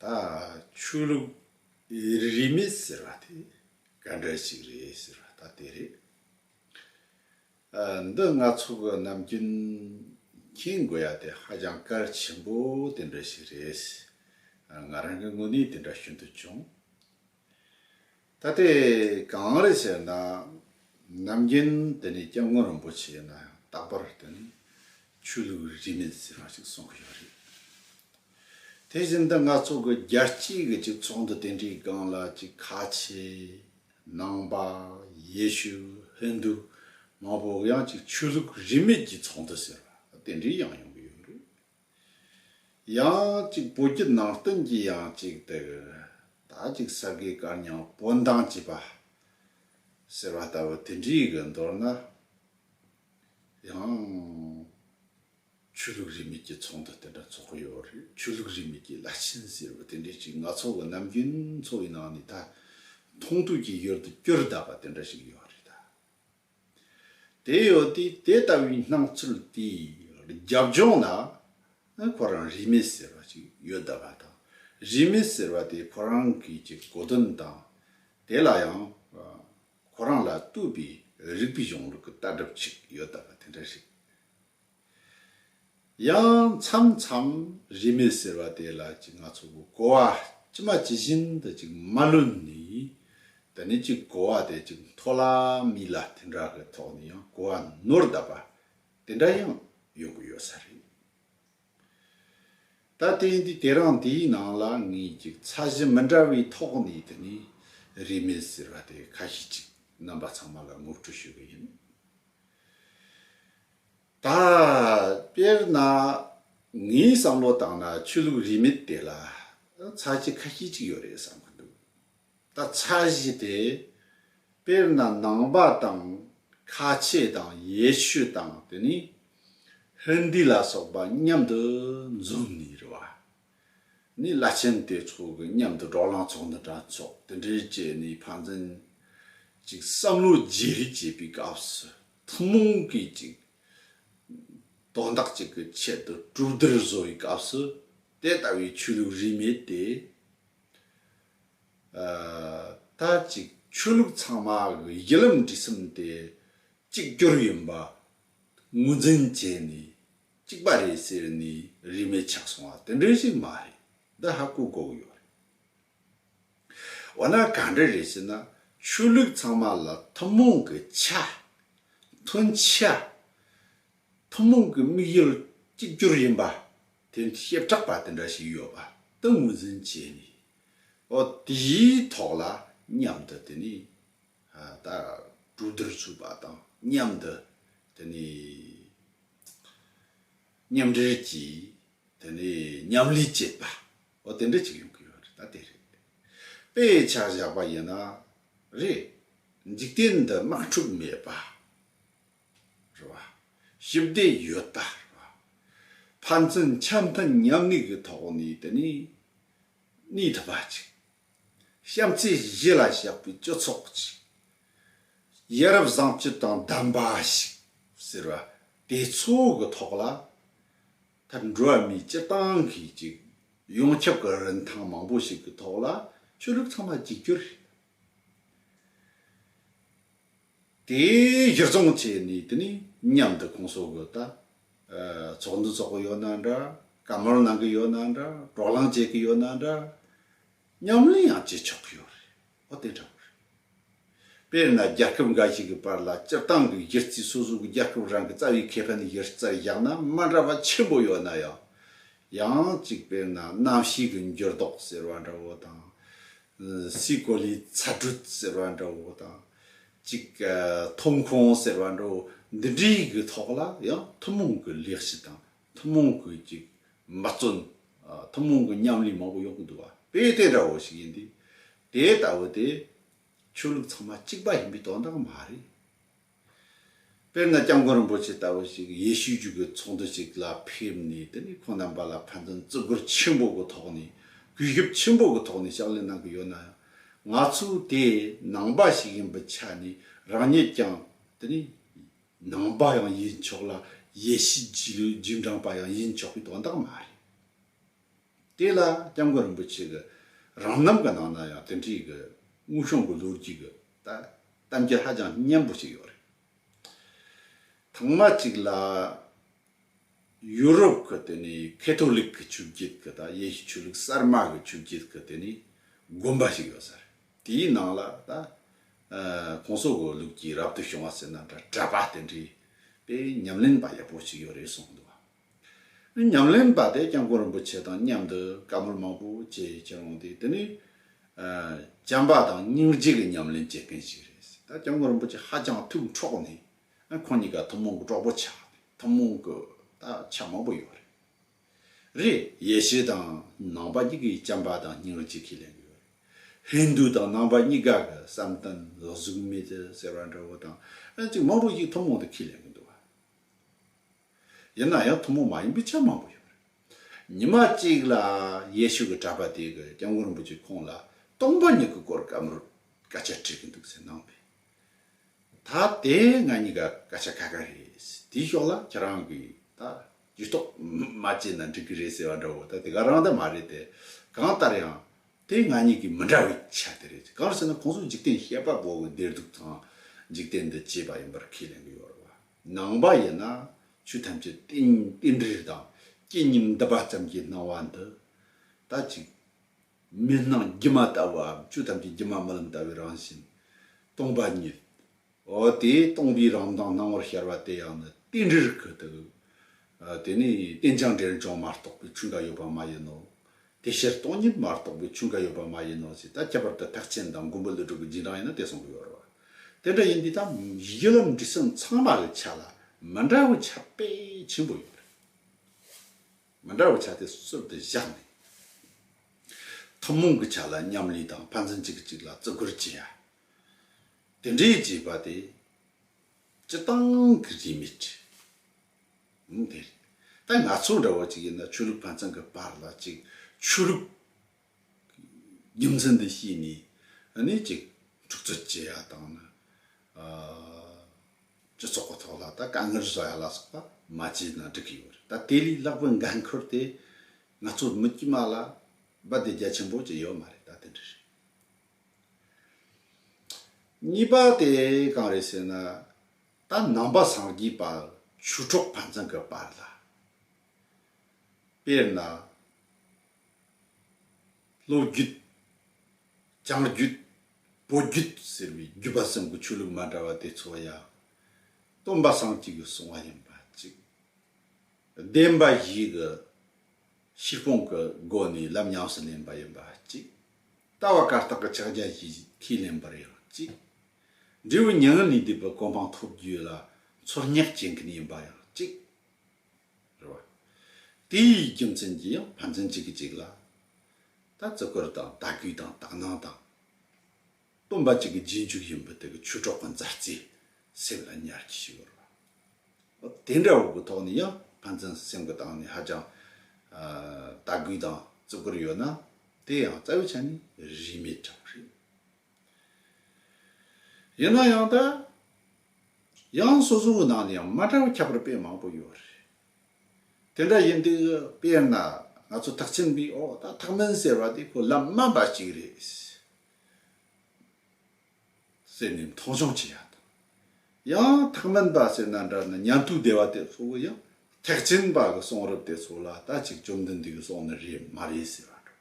ད་ཆོས་ལུགས་རིས་མེད་ཟེར་བ་དེ་ག་འདྲ་ཞིག་རེད་ཟེར་བ་ད་དེ་རེད། འདི་ང་ཚོ་གི་ནམ་རྒྱུན་མཁྱེན་དགོས་ཡ་དེ་ཧ་ཅང་སྐལ་ཆེན་པོ་དེ་འདྲ་ཞིག་རེད། ང་རང་གི་དངོས་གནས་དེ་འདྲ་ཤུན་ཏུ་ཆུང། ད་ལྟའི་གངས་རི་ཞེས་ན་ནམ་རྒྱུན་དེ་ནི་སྐྱབས་མགོན་རིན་པོ་ཆེ་ཡིན་ན་ཡང་རྟག་པར་དེ་ནི་ཆོས་ལུགས་རིས་མེད་ཟེར་བ་ཞིག་གསུང་གི་ཡོད་རེད། དེ་བཞིན་དུ་ང་ཚོ་གི་རྒྱལ་སྤྱིའི་གི་གཅིག་ཚོགས་འདུ་དེ་འདྲའི་སྒང་ལ་གཅིག་ཁ་ཆེ། ནང་པ། ཡེ་ཤུ། ཧིན་དུ། མང་པོ་གི་ཡང་གཅིག་ཆོས་ལུགས་རིས་མེད་ཀྱི་ཚོགས་འདུ་ཟེར་བ་དེ་འདྲའི་ཡང་ཡོང་གི་ཡོད་རེད། ཡང་ཅིག་བོད་ཀྱི་ནང་བསྟན་གྱི་ཡང་ཅིག་དེར་ད་ཅིག་ས་དགེ་བཀའ་རྙིང་དཔོན་མདང་བྱེད་པ་ཟེར་བ་ལྟ་བུ་དེ་འདྲིའི་གི་མདོར་ན་ཡང་ཆོས་ལུགས་རིས་མེད་ཀྱི་ཚོགས་འདུ་དེ་འདྲ་འཚོགས་ཀྱི་ཡོད་རེད་ཆོས་ལུགས་རིས་མེད་ཀྱི་བླ་ཆེན་ཟེར་བ་དེ་འདྲའི་ཅིག་ནག་ཚོགས་གི་ནམ་རྒྱུན་ཚོགས་ཡི་ནང་ནས་ད་མཐོང་ཐོས་ཀྱི་ཡུལ་དུ་སྐྱོར་གདའ་བ་དེ་འདྲ་ཞིག་ཡོད་རེད་ད། དེ་ཡོད་དུས་དེ་ལྟ་བུའི་སྣང་ཚུལ་དེའི་རྒྱབ་ལྗོངས་ལ་ཁོ་རང་རིས་མེད་ཟེར་བ་ཞིག་ཡོད་བསྡད་པ་དང་རིས་མེད་ཟེར་བ་དེ་ཁོ་རང་གིས་ཀྱི་གོ་དོན་དང། དེ་ལ་ཡང་ཁོ་རང་ལ་བསྟོད་པའི་རིགས་པའི་གཞུང་ལུགས་ཀྱི་ལྟ་གྲུབ་ཅིག་ཡོད་བསྡད་པ་དེ་འདྲ་རེད། ཡང་མཚམས་མཚམས་རིས་མེད་ཟེར་བ་དེ་ལ་ཅིག་ང་ཚོ་གོ་བ་ཅི་མ་ཇི་བཞིན་དུ་ཅིག་མ་ལོན་ནས་ད་ནི་ཅིག་གོ་བ་དེ་ཅིག་མཐོ་ལ་མི་ལ་དེ་འདྲ་གི་ཐོག་ནས་ཡང་གོ་བ་ནོར་བསྡད་པ་དེ་འདྲ་ཡང་ཡོང་གི་ཡོད་ས་རེད། ད་ལྟའི་འདི་དེ་རིང་འདིའི་ནང་ལ་ངས་ཅིག་ཚ་གཞི་མི་འདྲ་བའི་ཐོག་ནས་དེ་ནི་རིས་མེད་ཟེར་བ་དེ་ཁ་ཤས་ཅིག་རྣམ་པ་ཚང་མ་ལ་ངོ་སྤྲོད་ཞུ་གི་ཡིན། ད། དཔེར་ན། ངའི་བསམ་བློ་ལྟར་ན་ཆོས་ལུགས་རིས་མེད་དེ་ལ་ཚ་གཞི་ཁ་ཤས་ཅིག་ཡོད་རེད་བསམ་གྱི་འདུག་ད་ཚ་གཞི་དེ། དཔེར་ན་ནང་པ་དང་ཁ་ཆེ་དང་ཡེ་ཤུ་དང་དེ་ནི་ཧིན་དི་ལ་སོགས་པ་མཉམ་དུ་འཛོམས་ནས་རེད་བ། ནི་བླ་ཆེན་དེ་ཚོ་གི་མཉམ་དུ་འགྲོགས་ལངས་ཚོགས་འདུ་དྲ་ཚོགས་དེ་འདྲའི་བཅས་ནས་ཕ་མཚན་ཅིག་བསམ་བློ་བརྗེ་རེས་བྱེད་པའི་སྐབས་སུ་ཐུན་མོང་གི་ཅིག་དོན་དག་ཅིག་གི་ཆེད་དུ་གྲུབ་བསྡུར་བཟོ་བའི་སྐབས་སུ་དེ་ལྟ་བུའི་ཆོས་ལུགས་རིས་མེད་དེ་ལྟར་ཅིག་ཆོས་ལུགས་ཚང་མ་གི་ཡི་ལམ་འབྲི་སེམས་དེ་གཅིག་གྱུར་ཡིན་པ་ངོས་འཛིན་བྱས་ནས་གཅིག་པ་རེད་ཟེར་ནས་རིས་མེད་ཆགས་སོང་བ་དེ་འདྲ་ཞིག་མ་རེད་འདི་ཧ་གོ་གོ་ཡོད་རེད། འོ་ན་ག་འདྲ་རེད་ཟེར་ན་ཆོས་ལུགས་ཚང་མ་ལ་ཐུན་མོང་གི་ཆ། མཐུན་ཆ། ཐུན་མོང་གི་དམིགས་ཡུལ་གཅིག་གྱུར་ཡིན་པ་དེ་བཤད་གྲགས་པ་དེ་འདྲ་ཞིག་ཡོད་པ་དེ་ངོས་འཛིན་བྱས་ནས་ཨོ་དེའི་ཐོག་ལ་མཉམ་དུ་དེ་ནས་ད་གྲོས་བསྡུར་བྱུགས་པ་དང་མཉམ་དུ་དེ་ནས་མཉམ་འབྲེལ་གྱིས་དེ་ནས་མཉམ་ལས་བྱེད་པ། འོ་དེ་འདྲ་ཅིག་ཡོང་གི་ཡོད་རེད་ད་དེ་རེད། དཔེ་ཆ་བཞག་པ་ཡིན་ན་རེད། འཇིག་རྟེན་འདི་དམག་འཁྲུག་མེད་པ་རེད་བ། ཞི་བདེ་ཡོད་པ་རེད་བ། ཕན་ཚུན་ཆ་མཐུན་མཉམ་གནས་ཀྱི་ཐོག་ནས་དེ་ནས་གནས་ཐུབ་པ་ཅིག་བཤམས་ཚེས་བཞི་ལ་བཤགས་པའི་སྤྱི་ཚོགས་ཅིག། ཡ་རབས་བཟང་སྤྱི་དང་ལྡན་པ་ཞིག་ཟེར་བ་དེ་ཚོ་གི་ཐོག་ལ། ད་འགྲོ་བ་མིའི་སྤྱི་བཏང་གི་ཅིག་ཡོངས་ཁྱབ་ཀྱི་རིན་ཐང་མང་པོ་ཞིག་གི་ཐོག་ལ་ཆོས་ལུགས་ཚང་མ་གཅིག་གྱུར་རེད། དེ་གཞིར་བཟུང་བྱས་ནས་དེ་ནས་མཉམ་དུ་ཁོང་སོགས་ཀྱི་ད་ཚོགས་འདུ་འཚོགས་ཀྱི་ཡོད་ན་འདྲ་བཀའ་མོལ་གནང་གི་ཡོད་ན་འདྲ་དཀྲོག་གླང་བྱེད་ཀྱི་ཡོད་ན་འདྲ་ཉམས་ལེན་ཡང་བྱེད་ཆོག་གི་ཡོད་རེད་འོ་དེ་འདྲ་བོ་རེད། དཔེར་ན་རྒྱལ་ཁབ་འགའ་ཞིག་གི་བར་ལ་སྤྱིར་བཏང་གི་གཞི་རྩའི་སོ་སོ་གི་རྒྱལ་ཁབ་རང་གི་རྩ་བའི་ཁེ་ཕན་གཞི་རྩར་བཞག་ན་མ་འདྲ་བ་ཆེན་པོ་ཡོད་ན་ཡང། ཡང་གཅིག་དཔེར་ན་གནམ་གཤིས་ཀྱི་འགྱུར་ལྡོག་ཟེར་བ་འདྲ་བོ་དང། སྲིད་གོ་ལའི་ཚ་དྲོད་ཟེར་བ་འདྲ་བོ་དང། གཅིག་ཐོབ་ཁོངས་ཟེར་བ་འདྲ་བོ་འདི་འདྲའི་གི་ཐོག་ལ་ཡང་ཐུན་མོང་གི་ལེགས་བྱས་དང་ཐུན་མོང་གི་གཅིག་འབད་བརྩོན། ཐུན་མོང་གི་མཉམ་ལས་མང་པོ་ཡོང་གི་འདུག་བ་དཔེ་དེ་འདྲ་བོ་ཞིག་ཡིན་དུས། དེ་ལྟ་བུ་དེ་ཆོས་ལུགས་ཚང་མ་གཅིག་པ་ཡིན་པའི་དོན་དག་མ་རེད། དཔེར་ན་སྐྱབས་མགོན་རིན་པོ་ཆེ་ལྟ་བུ་ཞིག་ཡེ་ཤུའི་རྒྱུད་ཀྱི་ཚོགས་འདུ་ཞིག་ལ་ཕེབས་ནས་དེ་ནས་ཁོང་རྣམ་པ་ལ་ཕན་ཚུན་བརྩི་བཀུར་ཆེན་པོ་གི་ཐོག་ནས་གུས་ཞབས་ཆེན་པོ་གི་ཐོག་ནས་ཕྱག་ལས་གནང་གི་ཡོད་ན་ཡང་ང་ཚོའི་དེ་ནང་པ་ཞིག་ཡིན་པའི་ཆ་ནས་རང་ཉིད་ཀྱང་དེ་ནས་ནང་པ་ཡང་ཡིན་ཆོག་ལ་ཡེ་ཤུའི་རྒྱུད་ལོའི་རྒྱུད་འབྲངས་པ་ཡང་ཡིན་ཆོག་པའི་དོན་དག་མ་རེད། དེ་ལ་སྐྱབས་མགོན་རིན་པོ་ཆེ་གི་རང་རྣམ་གི་ནང་ན་ཡང་དེ་འདྲའི་གི་དངོས་བྱུང་གི་ལོ་རྒྱུས་གི་ད་གཏམ་རྒྱུད་ཧ་ཅང་སྙན་པོ་ཞིག་ཡོད་རེད། ཐང་མ་གཅིག་ལ། ཡུ་རོབ་གི་དེ་ནི་ཁེ་ཐོ་ལིག་གི་ཆུ་བརྒྱུད་གི་དང་ཡེ་ཤུ་ཆོས་ལུགས་གསར་མ་གི་ཆུ་བརྒྱུད་གི་དེ་ནི་དགོན་པ་ཞིག་ཡོད་ས་རེད། དེའི་ནང་ལ་ད། ྋགོང་ས ྋགོང་ལུགས་ཀྱི་རབ་ཏུ་བྱུང་བ་ཟེར་ན་འདྲ་གྲྭ་པ་དེ་འདྲའི་པའི་ཉམས་ལེན་པ་ཡག་པོ་ཞིག་ཡོད་རེད་གསུངས་འདུག་བ། ཉམས་ལེན་པ་དེ་སྐྱབས་མགོན་རིན་པོ་ཆེ་དང་མཉམ་དུ་དཀར་མོར་མ་བུ་བཅས་ཁྱེད་རང་དེ་དེ་ནི་བྱམས་པ་དང་སྙིང་རྗེ་གི་ཉམས་ལེན་བྱེད་མཁན་ཞིག་རེད་ཟེར་ད་སྐྱབས་མགོན་རིན་པོ་ཆེ་ཧ་ཅང་ཐུགས་འཕྲོག་ནས་ཁོང་གཉིས་ཀ་ཐུན་མོང་གི་གྲོགས་པོ་ཆགས་ནས་ཐུན་མོང་གི་ད་ཆ་མང་པོ་ཡོད་རེད་རེད་ཡེ་ཤེས་དང་ནང་པ་གཉིས་ཀྱི་བྱམས་པ་དང་སྙིང་རྗེ་ཁས་ལེན་གི་ཡོད་རེད་ཧིན་རྡུ་དང་ནང་པ་གཉིས་ཀ་གི་བསམ་གཏན་ལ་གཟུགས་མེད་ཟེར་བ་འདྲ་བོ་དང་ཅིག་མང་པོ་ཞིག་ཐུན་མོང་དུ་ཁས་ལེན་གི་འདུག་བ། ཡིན་ན་ཡང་ཐུན་མོང་མ་ཡིན་པའི་ཆ་མང་པོ་ཡོད་པ་རེད། ཉི་མ་གཅིག་ལ་ཡེ་ཤུ་གི་གྲྭ་པ་དེ་གི་སྐྱབས་མགོན་རིན་པོ་ཆེ་ཁོང་ལ་སྟོང་པ་ཉིད་ཀྱི་སྐོར་བཀའ་མོལ་སྐད་ཆ་དྲིས་ཀྱི་འདུག་ཟེར་གནང་བས། ད་དེ་ང་གཉིས་ཀ་སྐད་ཆ་ཁ་ཁ་རེད། དེའི་ཕྱོགས་ལ་ཁྱེད་རང་གིས་ད་ཇུས་གཏོགས་མ་བྱས་ན་འགྲིག་གི་རེད་ཟེར་བ་འདྲ་བོ་ད་དེ་ག་རང་ད་མ་རེད་དེ། གང་ལྟར་ཡང་དེ་ང་གཉིས་ཀྱི་མི་འདྲ་བའི་ཆ་དེ་རེད། གང་ཟེར་ན་ཁོང་ཚོ་འཇིག་རྟེན་ཤེས་པ་གོ་གི་བདེ་སྡུག་དང་འཇིག་རྟེན་འདི་སྐྱེས་པ་ཡིན་པར་ཁས་ལེན་གི་ཡོད་རེད་བ། ནང་པ་ཡིན་ན་ཆོས་ཐམས་ཅད་རྟེན་རྟེན་འབྲེལ་དང་སྐྱེ་གཉིས་འདི་པ་ཙམ་གྱི་སྣང་བ་འདི་ལྟ་ཅིག། མི་སྣང་སྒྱུ་མ་ལྟ་བུའམ་ཆོས་ཐམས་ཅད་སྒྱུ་མ་རྨི་ལམ་ལྟ་བུའི་རང་བཞིན། སྟོང་པ་ཉིད། འོ་དེས་སྟོང་པའི་རང་མདངས་སྣང་བར་ཤར་བ་དེ་ཡང་ནི་རྟེན་འབྲེལ་གྱི་དོན། དེ་ནི་རྟེན་ཅིང་འབྲེལ་ཅིང་མ་རྟོགས་པའི་ཆོས་འགའ་ཡོད་པ་མ་ཡིན་ནོ། དེ་ཕྱིར་སྟོང་ཉིད་མ་རྟོགས་པའི་ཆོས་འགའ་ཡོད་པ་མ་ཡིན་ནོ་ཞེས་ད་ཁྱད་པར་དུ་ཐེག་ཆེན་དང་མགོན་པོ་ལས་གྲུབ་པའི་རྗེས་འབྲང་ཡིན་ན་དེ་གསུངས་པ་ཡོད་རེད། དེ་འདྲ་ཡིན་དུས་ད་ཡི་གེ་ལམ་འབྲས་སུམ་ཚང་མ་གི་ཆ་ལ་མི་འདྲ་བའི་ཆ་དཔེ་ཆེན་པོ་ཡོད་རེད། མི་འདྲ་བའི་ཆ་དེ་གསོལ་ཏེ་བཞག་ནས། ཐུན་མོང་གི་ཆ་ལ་མཉམ་ལས་དང་ཕན་ཚུན་གཅིག་གིས་གཅིག་ལ་བརྩི་བཀུར་བྱེད་ཡ། དེ་འདྲའི་བྱེད་པ་དེ་སྤྱི་སྟངས་ཀྱི་རིས་མེད། ཡིན་དེ་རེད། ད་ང་ཚོ་འདྲ་བ་ཅིག་ཡིན་ན་ཆོས་ལུགས་ཕན་ཚན་གི་བར་ལ་ཅིག་ཆོས་ལུགས་རྒྱུ་མཚན་འདི་ཤེས་ནས་ནི་ཅིག་འཁྲུག་རྩོད་བྱེད་ཡ་དང་ནི་སྤྱི་ཚོགས་གི་ཐོག་ལ་ད་དཀའ་ངལ་བཟོ་ཡ་ལ་སོགས་པ་མ་བྱས་ན་འགྲིག་གི་ཡོད་རེད་ད་དེ་ལས་ལྷག་པའི་འགན་ཁུར་དེ་ང་ཚོ་མི་དཀྱུས་མ་ལ་སྦ་དེ་རྒྱ་ཆེན་པོ་ཅིག་ཡོད་མ་རེད་ད་དེ་འདྲ་རེད། གཉིས་པ་དེ་གང་རེད་ཟེར་ན། ད་ནང་པ་སངས་རྒྱས་པ་ཆུ་གྲོགས་ཕན་ཚུན་གྱི་བར་ལ། དཔེར་ན། ལོ་རྒྱུད། བྱང་རྒྱུད། བོད་རྒྱུད་ཟེར་བའི་རྒྱུད་པ་གསུམ་གྱི་ཆོས་ལུགས་མ་འདྲ་བ་དེ་ཚོ་ཡང། སྟོན་པ་སངས་རྒྱས་ཀྱི་གསུང་བ་ཡིན་པ་གཅིག། བདེན་པ་བཞི་གི་ཤེས་སྤོང་གི་སྒོ་ནས་ལམ་ཉམས་སུ་ལེན་པ་ཡིན་པ་གཅིག། ལྟ་བ་བཀར་བཏགས་ཀྱི་ཕྱག་རྒྱ་བཞིས་ཁས་ལེན་པར་ཡང་གཅིག། འབྲས་བུ་མྱ་ངན་ལས་འདས་པའི་གོ་འཕང་ཐོབ་རྒྱུ་ལ་ཚོར་སྙེག་བྱེད་མཁན་ཡིན་པ་ཡང་གཅིག། རེད་བ། དེའི་རྒྱུ་མཚན་གྱིས་ཡང་ཕན་ཚུན་གཅིག་གིས་གཅིག་ལ་ད་བརྩི་བཀུར་དང་དད་གུས་དང་དག་སྣང་དང། སྟོན་པ་གཅིག་གི་རྗེས་འཇུག་ཡིན་པའི་དེ་གི་ཆོས་གྲོགས་ཀྱི་མཛའ་བརྩེ་སེམས་ལ་ཉར་གྱི་ཞིག་ཡོད་རེད་བ། དེ་འདྲ་བོ་གི་ཐོག་ནས་ཡང་ཕན་ཚུན་སེམས་གི་སྟེང་ནས་ཧ་ཅང་དད་གུས་དང་བརྩི་བཀུར་ཡོད་ན་དེ་ཡང་རྩ་བའི་ཆ་ནས་རིས་མེད་འདྲ་བོ་རེད། ཡིན་ན་ཡང་དང་ཡང་སོ་སོའི་ནང་ནས་ཡང་མ་འདྲ་བ་ཁྱད་པར་དཔེ་མང་པོ་ཡོད་རེད། དེ་འདྲ་ཡིན་དུས་དཔེར་ན་ང་ཚོ་ཐག་ཆེན་པོས་ཨོ་ད་ཐག་མིན་ཟེར་བ་དེ་ཁོ་ལམ་སྨྲ་འབའ་ཞིག་རེད། ཟེར་ནས་མཐོང་ཆུང་བྱེད་ཡག་དང། ཡང་ཐེག་དམན་པ་སེར་སྣ་འདྲ་ན་ཉམས་རྟོགས་བདེ་བ་དེ་ལྷོད་པོ་ཡང་ཐེག་ཆེན་པ་གི་གསུང་རབ་དེ་ཚོ་ལ་ལྟ་ཅིག་བཅོམ་ལྡན་འདས་ཀྱི་གསུང་ནི་རེད་མ་རེད་ཟེར་བ་འདྲ།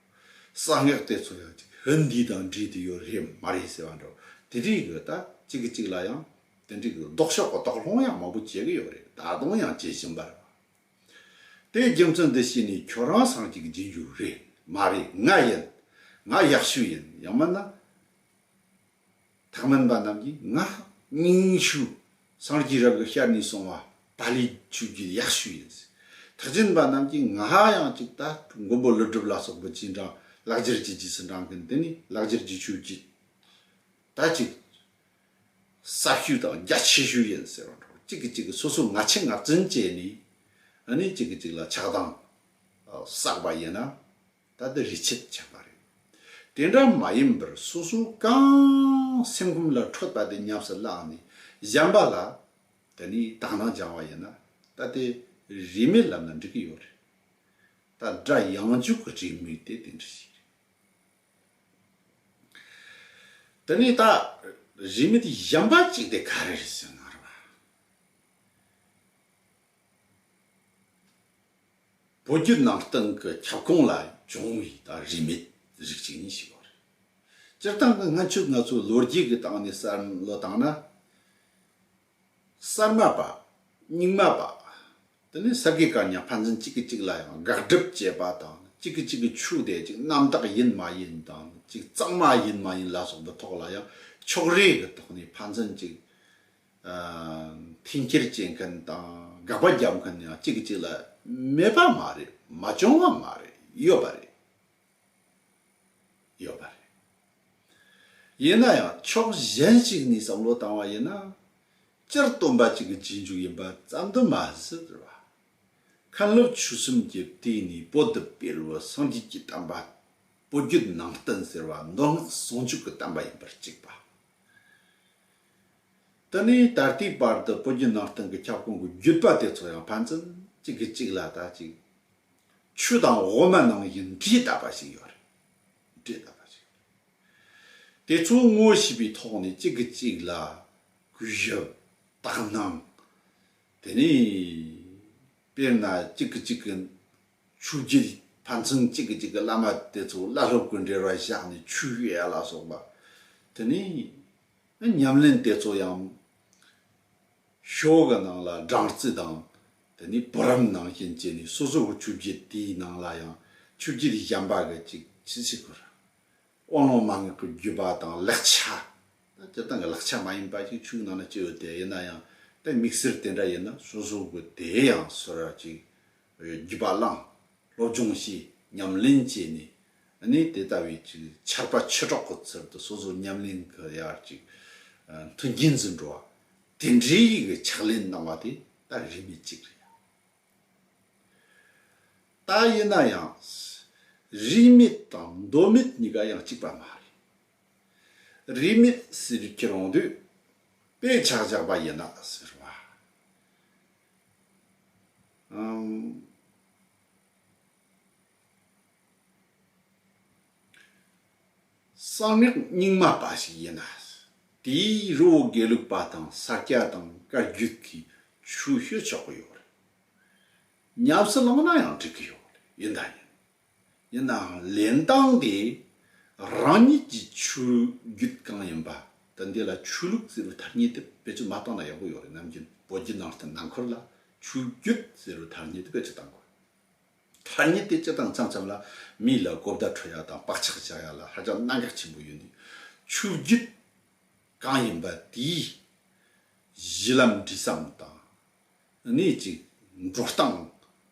གསང་སྔགས་དེ་ཚོ་ཡང་ཅིག་ཧིན་དྷི་དང་འབྲེལ་དུ་ཡོད་རེད་མ་རེད་ཟེར་བ་འདྲ། དེ་འདྲའི་གི་ལྟ་ཅིག་གི་ཅིག་ལ་ཡང་དེ་འདྲའི་གི་ལྡོག་ཕྱོགས་གི་དོགས་སློང་ཡང་མང་པོ་བྱེད་གི་ཡོད་རེད་ད་དུང་ཡང་བྱེད་བཞིན་པ་རེད་བ། དེའི་རྒྱུ་མཚན་འདི་ཤེས་ནས་ཁྱོད་རང་སངས་ཅིག་བགྱིད་རྒྱུ་རེད་མ་རེད་ང་ཡིན། ང་ཡག་ཤོས་ཡིན་ཡང་མིན་ན། དག་མིན་པ་རྣམས་ཀྱིས་ངག་སྙིང་ཆུ་སྲང་གྱི་རབ་ཏུ་ཤར་ནས་སོང་བ་ད་ལི་ཆུ་རྒྱུད་ཡག་ཤོས་ཡིན། དག་ཅིན་པ་རྣམས་ཀྱིས་ངག་ཡང་གཅིག་ད་ཕྲུག་མགོན་པོ་ཀླུ་སྒྲུབ་ལ་སོགས་པའི་སྤྱན་དྲངས་ལག་འབྱེར་གྱི་རྗེས་སུ་འབྲང་གིན་དེ་ནི་ལག་འབྱེར་གྱི་ཆོས་ཀྱི་ད་གཅིག་ཟབ་ཤོས་དང་རྒྱ་ཆེ་ཤོས་ཡིན་ཟེར་བ་འདྲ་བོ་གཅིག་གིས་གཅིག་གི་སོ་སོའི་ངག་འཆི་ངག་རྫུན་བཅད་ནས་ནི་གཅིག་གིས་གཅིག་ལ་ཆགས་སྡང་བསགས་པ་ཡིན་ན། ད་ལྟ་རི་ཆད་བྱས་པ་རེད། དེ་འདྲ་མ་ཡིན་པར་སོ་སོ་གང་སེམས་ཁོམ་ལ་འཕྲོད་པ་དེ་ཉམས་སུ་བླངས་ནས་བཞམས་པ་ལ་ད་ནི་དག་སྣང་སྦྱང་བ་ཡིན་ན་ད་ལྟའི་རིས་མེད་ལམ་ལ་འགྲིག་གི་ཡོད་རེད། ད་སྒྲ་ཡངས་འཇུག་གི་རིས་མེད་དེ་དེ་འདྲ་ཞིག་རེད། ད་ནི་ད་རིས་མེད་བཞམས་པ་ཅིག་དེ་ག་རེ་རེད་ཟེར་ན་རེ་བ། བོད་བརྒྱུད་ནང་བསྟན་གྱི་ཁྱབ་ཁོངས་ལ་བྱུང་བའི་དང་རིས་མེད་རིགས་གཅིག་ནི་ཞིག་ཡོད་རེད། སྤྱིར་བཏང་གི་སྔ་ཕྱི་ང་ཚོའི་ལོ་རྒྱུས་ཀྱི་སྟེང་ནས་བསམ་བློ་བཏང་ན། གསར་མ་པ། རྙིང་མ་པ། དེ་ནི་ས་དགེ་གང་ཉག་ཕན་ཚུན་གཅིག་གིས་གཅིག་ལ་ཡང་དགག་སྒྲུབ་བྱེད་པ་དང་གཅིག་གིས་གཅིག་གི་ཆོས་དད་ཅིག་རྣམ་དག་ཡིན་མ་ཡིན་དང་གཅིག་གཙང་མ་ཡིན་མ་ཡིན་ལ་སོགས་པའི་ཐོག་ལ་ཡང་ཕྱོགས་རེས་ཀྱི་ཐོག་ནས་ཕན་ཚུན་གཅིག་འཐེན་འཁྱེར་བྱེད་མཁན་དང་དགག་པ་བརྒྱབ་མཁན་ཡང་གཅིག་གི་གཅིག་ལ་མེད་པ་མ་རེད་མ་བྱུང་བ་མ་རེད་ཡོད་པ་རེད། ཡོད་པ་རེད། ཡིན་ན་ཡང་ཕྱོགས་གཞན་ཞིག་ནས་བསམ་བློ་བཏང་བ་ཡིན་ན། སྤྱིར་བཏོན་པ་གཅིག་གི་རྗེས་འཇུག་ཡིན་པ་བསམ་དུ་མ་ཟད་པ། མཁན་སློབ་ཆོས་གསུམ་གྱི་སྟེང་ནས་པོ་ཏི་དཔལ་བོ་སངས་རྒྱས་ཀྱི་བསྟན་པ། པོ་རྒྱུད་ནང་བསྟན་ཟེར་བ་མདོ་སྔགས་ཟུང་འཇུག་གི་བསྟན་པ་ཡིན་པར་གཅིག་པ། དེ་ནས་ད་ལྟའི་བར་དུ་བོད་བརྒྱུད་ནང་བསྟན་གྱི་ཁྱབ་ཁོངས་ཀྱི་བརྒྱུད་པ་དེ་ཚོ་ཡང་ཕན་ཚུན་གཅིག་གིས་གཅིག་ལ་ད་ཅིག་ཆུ་དང་འོ་མ་ནང་བཞིན་འདྲེས་གདབ་པ་ཞིག་ཡོད་རེད། འདྲེས་གདབ་པ་ཞིག་ཡོད་རེད། དེ་ཚོ་དངོས་བྱས་པའི་ཐོག་ནས་གཅིག་གིས་གཅིག་ལ་གུས་ཞབས་དག་སྣང། དེ་ནས་དཔེར་ན་གཅིག་གིས་གཅིག་གི་ཆུ་རྒྱུད་ཕན་ཚུན་གཅིག་གིས་གཅིག་གི་བླ་མ་དེ་ཚོ་བླ་སློབ་ཀྱི་འབྲེལ་བ་བཞག་ནས་ཆུ་གཡས་ལ་སོགས་པ་དེ་ནས། ཉམས་ལེན་དེ་ཚོ་ཡང་ཤོག་གི་ནང་ལ་སྦྲང་རྩི་དང་དེ་ནས་བུ་རམ་ནང་བཞིན་བྱས་ནས་སོ་སོ་གི་ཆུ་བརྒྱད་དེའི་ནང་ལ་ཡང་ཆུ་བརྒྱད་གཞན་པ་གི་ཅིག་ཅིག་བྱེད་དགོས་ར། དབང་ལུང་མ་ངེས་པའི་བརྒྱུད་པ་དང་ལེགས་ཆ། སྤྱིར་བཏང་གི་ལེགས་ཆ་མ་ཡིན་པ་ཞིག་ཆུ་ནང་ན་སྤྱད་ཡོད་དེ་ཡིན་ན་ཡང་དེ་དམིགས་བསལ་དེ་འདྲ་ཡིན་ན་སོ་སོ་གི་དེ་ཡང་སོ་ར་ཅིག་བརྒྱུད་པ་བླངས། སློབ་སྦྱོང་བྱས། ཉམས་ལེན་བྱས་ནས། ནི་དེ་ལྟ་བུའི་ཆུ་ཆར་པ་ཆུ་གྲོག་གི་ཚུལ་དུ་སོ་སོའི་ཉམས་ལེན་གྱི་ཡར་གཅིག་མཐུན་རྐྱེན་འཛིན་འགྲོ་བ། དེ་འདྲའི་ཡི་གེ་ཕྱག་ལེན་གནང་བ་དེ་ད་རིས་མེད་ཅིག་རེད། ད་ཡིན་ན་ཡང། རིས་མེད་དང་འདོད་མེད་གཉིས་ཀ་ཡང་གཅིག་པ་མ་རེད། རིས་མེད་ཟེར་བའི་ཁྱེད་རང་དུས་དཔེ་ཆ་བཞག་པ་ཡིན་ན་ཟེར་བ། གསང་སྔགས་རྙིང་མ་པ་ཞིག་ཡིན་ལ། དེའི་རི་བོ་དགེ་ལུགས་པ་དང་ས་སྐྱ་དང་བཀའ་བརྒྱུད་ཀྱི་ཆོས་ཤོད་ཆོག་གི་ཡོད་རེད། ཉམས་སུ་བླངས་ན་ཡང་འགྲིག་གི་ཡོད་ཡིན་ད་ཡིན། ཡིན་ནའང་ལེན་སྟངས་དེ་རང་ཉིད་ཀྱི་ཆོས་བརྒྱུད་གང་ཡིན་པ་དེ་འདི་ལ་ཆོས་ལུགས་ཟེར་བའི་ཐ་སྙད་དེ་བེད་སྤྱོད་མ་བཏང་ན་ཡག་པོ་ཡོད་རེད་ནམ་རྒྱུ་བོད་བརྒྱུད་ནང་བསྟན་ནང་འཁོར་ལ་ཆོས་བརྒྱུད་ཟེར་བའི་ཐ་སྙད་དེ་བེད་སྤྱོད་བཏང་དགོས། ཐ་སྙད་དེ་སྤྱད་སྟངས་འཚམ་འཚམ་ལ་མིའི་ལ་གོ་བརྡ་འཕྲོད་ཡག་དང་བག་ཆགས་བཞག་ཡག་ལ་ཧ་ཅང་གནད་འགག་ཆེན་པོ་ཡོད་འདུག་ཆོས་བརྒྱུད་གང་ཡིན་པ་དེའི་གཞི་ལམ་འབྲི་སའམ་དང་ནི་ཅིག་འགྲོ་སྟངས་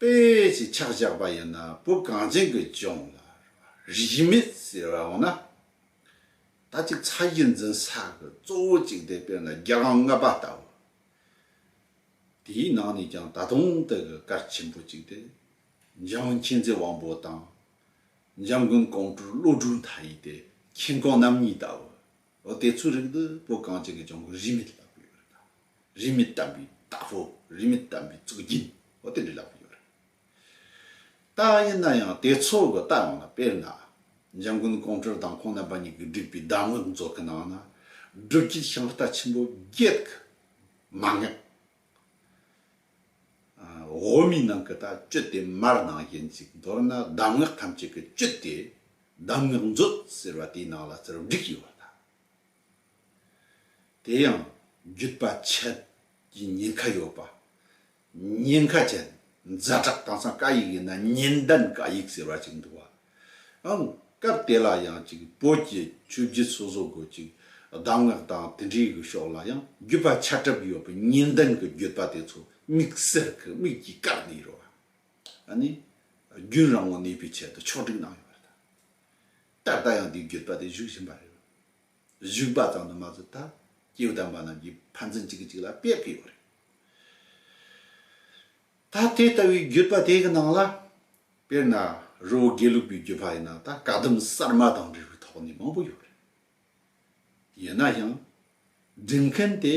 དཔེ་ཞེས་ཕྱག་བཞག་པ་ཡིན་ན་བུ་གངས་ཅན་གྱི་ལྗོངས་ལ་རིས་མེད་ཟེར་བ་འོང་ན། ད་གཅིག་ཚ་གཞི་འཛིན་ས་གི་གཙོ་བོ་གཅིག་དེ་དཔེར་ན་རྒྱ་གྲོང་རྔ་པ་ལྟ་བུ། དེའི་ནང་ནས་ཀྱང་ད་དུང་དེ་གི་སྐར་ཆེན་པོ་གཅིག་དེ་འཇམ་དབྱངས་མཁྱེན་བརྩེ་དབང་པོ་དང། འཇམ་མགོན་གོང་བཀྲུ་བློ་གྲོས་མཐའ་ཡས་དེ་མཁྱེན་གོང་རྣམ་གཉིས་ལྟ་བུ། འོ་དེ་ཚོའི་རིགས་འདི་བུ་གངས་ཅན་གྱི་ལྗོངས་ཀྱི་རིས་མེད་ལྟ་བུ་ཡོད་རེད་དམ། རིས་མེད་དམ་པའི་བདག་པོ་རིས་མེད་དམ་པའི་གཙུག་རྒྱན་ཨོ་དེ་འདྲའི་ལབ་པ་ཡོད་རེད། རྟགས་ཡིན་ན་ཡང་དེ་ཚོ་གི་རྟགས་ངོ་ན་དཔེར་ན། འཇམ་མགོན་ཀོང་སྤྲུལ་དང་ཁོང་རྣམ་པ་གཉིས་ཀྱི་བསྒྲིགས་པའི་གདམས་ངག་མཛོད་ཀྱི་ནང་ན། སྒྲུབ་དཀྱིལ་ཤིང་རྟ་ཆེན་པོ་བརྒྱད་ཀྱི་མ་ངེས། འོག་མའི་ནང་གི་རྟགས་བཅུ་དེ་མར་ནང་བཞིན་གཅིག་མདོར་ན་གདམས་ངག་ཐམས་ཅད་ཀྱི་བཅུད་དེ་གདམས་ངག་མཛོད་ཟེར་བ་དེའི་ནང་ལ་རྩེར་བསྒྲིགས་ཡོད་པ་དང། དེ་ཡང་བརྒྱུད་པ་ཆད་ཀྱི་ཉེན་ཁ་ཡོད་པ། ཉེན་ཁ་ཆད་རྫ་དྲག་དྭངས་སང་ཀ་ཡིག་ཡིན་ན་ཉེན་ལྡན་ཀ་ཡིག་ཟེར་བ་ཅིག་འདུག་བ། ཨང། སྐབས་དེ་ལ་ཡང་ཅིག་བོད་ཀྱི་ཆོས་བརྒྱུད་སོ་སོ་དགོས་ཅིག་གདམས་ངག་དང་དེ་འདྲའི་གི་ཕྱོགས་ལ་ཡང་བརྒྱུད་པ་ཆད་གྲབས་ཡོད་པའི་ཉེན་ལྡན་གི་བརྒྱུད་པ་དེ་ཚོ་དམིགས་བསལ་གི་དམིགས་ཀྱིས་བཀག་ནས་ཡོད་བ། ཨ་ནི། རྒྱུན་རང་ངོ་གནས་པའི་ཆེད་དུ་ཕྱོགས་སྒྲིག་གནང་ཡོད་བ་དང། ད་ལྟ་ཡང་དེའི་བརྒྱུད་པ་དེ་བཞུགས་བཞིན་པ་རེད། བཞུགས་པ་ཙམ་དུ་མ་ཟད་ད་ཀྱེའུ་དམ་པ་རྣམས་ཀྱིས་ཕན་ཚུན་གཅིག་གིས་གཅིག་ལ་དཔེ་ཕུལ་ཡོད་རེད། ད་དེ་ལྟ་བུའི་བརྒྱུད་པ་དེ་གི་ནང་ལ། དཔེར་ན་རི་བོ་དགེ་ལུགས་པའི་བརྒྱུད་པ་ཡིན་ན་ད་བཀའ་གདམས་གསར་མ་དང་འབྲེལ་བའི་ཐོག་ནས་མང་པོ་ཡོད་རེད། ཡིན་ན་ཡང་སྒྲིག་མཁན་དེ།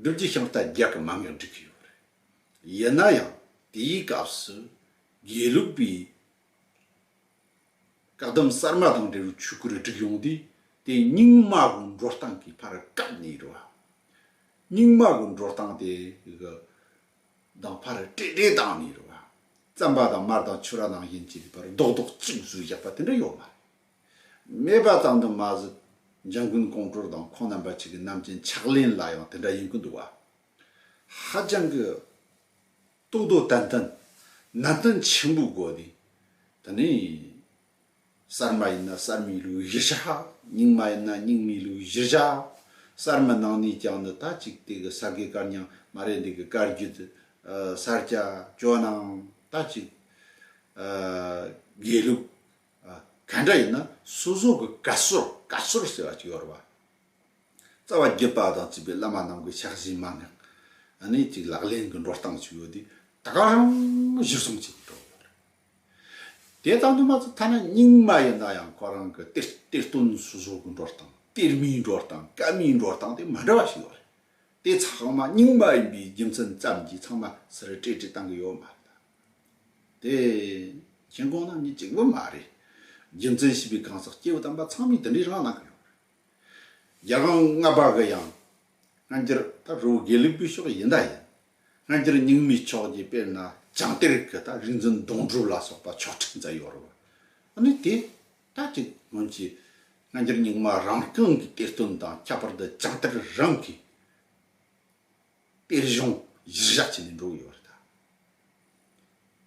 བསྒྲུབ་རྒྱུ་ཤིང་རྟ་རྒྱག་གི་མམ་ཡང་འགྲིག་གི་ཡོད་རེད། ཡིན་ན་ཡང་དེའི་སྐབས་སུ་དགེ་ལུགས་པའི་བཀག་སྡོམ་གསར་མ་དང་འབྲེལ་བའི་ཆོས་སྐོར་བསྒྲིགས་ཡོང་དུས་དེ་རྙིང་མ་གི་འགྲོ་སྟངས་ཀྱི་ཕར་བཀབ་ནས་ཡོད་རེད། རྙིང་མ་གི་འགྲོ་སྟངས་དེ་གི་དང་ཕར་སྤྲད་སྤྲད་བཏང་ནས་ཡོད་རེད། རྩམ་པ་དང་མར་དང་ཆུ་ར་ནང་བཞིན་གྱི་བར་རྡོག་རྡོག་གཅིག་བཟོས་བཞག་པ་དེ་འདྲ་ཡོད་མ་རེད། སྨྲས་པ་ཙམ་དུ་མ་ཟད་འཇང་དགུན་ཀོང་ཀྲོར་དང་ཁོང་རྣམ་པ་གཅིག་གི་རྣམ་མཁྱེན་ཕྱག་ལེན་ལ་ཡང་དེ་འདྲ་ཡིན་ཀི་འདུག་བ། ཧ་ཅང་གི་ཏོག་ཏོག་ཏན་ཏན་ནན་ཏན་ཆེན་པོའི་སྒོ་ནས་དེ་ནི་གསར་མ་ཡིན་ན་གསར་མའི་ལུགས་གཞིར་བཞག་རྙིང་མ་ཡིན་ན་རྙིང་མའི་ལུགས་གཞིར་བཞག་གསར་མ་ནང་ནས་ཀྱང་ནི་ད་ཅིག་དེ་གི་ས་དགེ་བཀར་ཉང་མ་རེད་འདི་གི་བཀར་རྒྱུད་སར་སྐྱ་ཇོ་ནང་ད་ཅིག་དགེ་ལུགས་གང་འདྲ་ཡིན་ན་སོ་སོ་གི་བཀའ་སྲོལ་བཀའ་སྲོལ་ཟེར་བ་ཅིག་ཡོད་རེད་བ། རྩ་བ་བརྒྱུད་པ་དང་བརྩིས་པའི་བླ་མ་རྣམས་ཀྱི་ཕྱག་བཞེས་མ་ངག་ནས་ཅིག་ལག་ལེན་གྱི་འགྲོ་སྟངས་ཅིག་ཡོད་དེ་ད་ག་རང་གཞི་བཟུང་བྱས་ཀྱི་འགྲོ་ཡོད་རེད། དེ་དང་དུ་མ་ཚོ་ཐ་ན་རྙིང་མ་ཡིན་ན་ཡང་ཁོ་རང་གི་གཏེར་གཏེར་སྟོན་སོ་སོ་གི་འགྲོ་སྟངས་གཏེར་མའི་འགྲོ་སྟངས་བཀའ་མའི་འགྲོ་སྟངས་དེ་མ་འདྲ་བ་ཞིག་ཡོད་རེད། དེ་ཚང་མ་རྙིང་མ་ཡིན་པའི་རྒྱུ་མཚན་ཙམ་གྱིས་ཚང་མ་སུ་རེད་བཀྲེས་བཀྲེས་གཏང་གི་ཡོད་མ་རེད་ད། དེ། མཁྱེན་དགོངས་རྣམ་གཉིས་གཅིག་པུ་མ་རེད། རྒྱུ་མཚན་བྱིས་པའི་གང་ཟག་སྐྱེ་བོ་དམ་པ་ཚང་མས་དེ་འདྲའི་རང་སྣང་གི་ཡོང་རེད། རྒྱ་གང་ང་བ་གི་ཡང། སྔ་འགྱུར་ད་རུ་དགེ་ལུགས་པའི་ཕྱོགས་ཡིན་ད་ཡིན། སྔ་འགྱུར་རྙིང་མའི་ཕྱོགས་ཀྱི་དཔེར་ན་བྱང་གཏེར་གི་ད་རིག་འཛིན་གདུང་སྒྲུབ་ལ་སོགས་པ་ཆོག་ཁྲིགས་མཛད་ཡོད་རུང། ཨ་ནི་དེ་ད་ཅིག་སྔོན་གྱི་སྔ་འགྱུར་རྙིང་མ་རང་རྐང་གི་གཏེར་སྟོན་དང་ཁྱད་པར་དུ་བྱང་གཏེར་རང་གི། དཔེ་གཞུང་གཞིར་བཞག་བྱས་ནས་འགྲོ་གི་ཡོད་རེད་ད།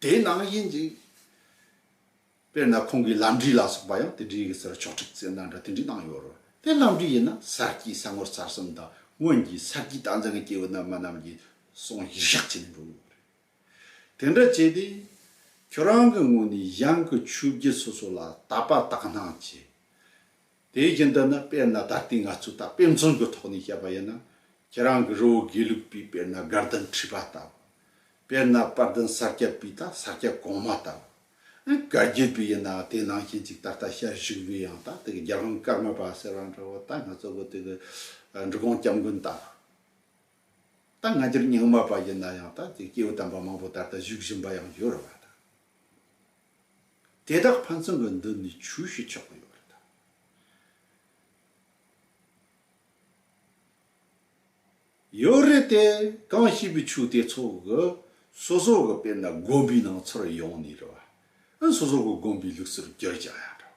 དེའི་ནང་བཞིན་ཅིག། དཔེར་ན་ཁོང་གི་ལམ་འབྲས་ལ་སོགས་པ་ཡང་དེ་འདྲའི་གསེར་ཕྱོགས་འཁྲིག་ཙེ་ནང་འདྲ་དེ་འདྲའི་ནང་ཡོད་རེད། དེ་ལམ་འབྲས་ཡིན་ན་གསར་སྐྱེས་གསར་ངོར་གསར་གསུམ་དང་སྔོན་གྱི་གསར་སྐྱེས་རྟགས་མཚན་གྱི་སྐྱེ་བོ་རྣལ་མ་རྣམས་ཀྱི་གསུང་གཞིར་བཞག་བྱས་ནས་འགྲོ་གི་ཡོད་རེད། དེ་འདྲ་བྱས་ཏེ། ཁྱོད་རང་གི་ངོས་ནས་གཞན་གྱི་ཆོས་བརྒྱུད་སོ་སོ་ལ་དད་པ་དག་སྣང་བྱས། དེའི་རྒྱུན་དུ་ནི་དཔེར་ན་ད་ལྟའི་ང་ཚོས་ད་དཔེ་མཚོན་གྱི་ཐོག་ནས་བཤད་པ་ཡིན་ན། ཁྱེད་རང་གི་རི་བོ་དགེ་ལུགས་པའི་དཔེར་ན་དགའ་ལྡན་ཁྲི་པ་ལྟ་བུ། དཔེར་ན་དཔའ་ལྡན་ས་སྐྱ་པའི་ད་ས་སྐྱ་གོང་མ་ལྟ་བུ། ཨེ་བཀའ་བརྒྱུད་པའི་ཡིན་ནའང་དེ་ནང་བཞིན་ཅིག་ད་ལྟ་ཤར་བཞུགས་པའི་ཡང་ད་དེ་གི་རྒྱལ་བློན་ཀརྨ་པ་ཟེར་བ་འདྲ་བོ་ད་ང་ཚོ་གི་དེ་གི་འབྲི་གུང་སྐྱབས་མགོན་ལྟ་བུ། ད་སྔ་འགྱུར་རྙིང་མ་པ་ཡིན་ན་ཡང་ད་དེ་སྐྱེས་བུ་དམ་པ་མང་པོ་ད་ལྟ་བཞུགས་བཞིན་པ་ཡང་ཡོད་རེད་བ་ད། དེ་དག་ཕན་ཚུན་གྱི་མདུན་ནས་ཆུ་བཞི་ཆགས་ཀྱི་ཡོད་རེད། ཡོད་རེད་དེ། གང་ཞིག་གི་ཆུ་དེ་ཚོ་གི་སོ་སོ་གི་དཔེར་ན་དགོན་པའི་ནང་ཚུར་ཡོང་ནས་རེད་བ། སོ་སོ་གི་དགོན་པའི་ལུགས་སྲོལ་བསྒྱུར་བཞག་ཡ་འདྲ་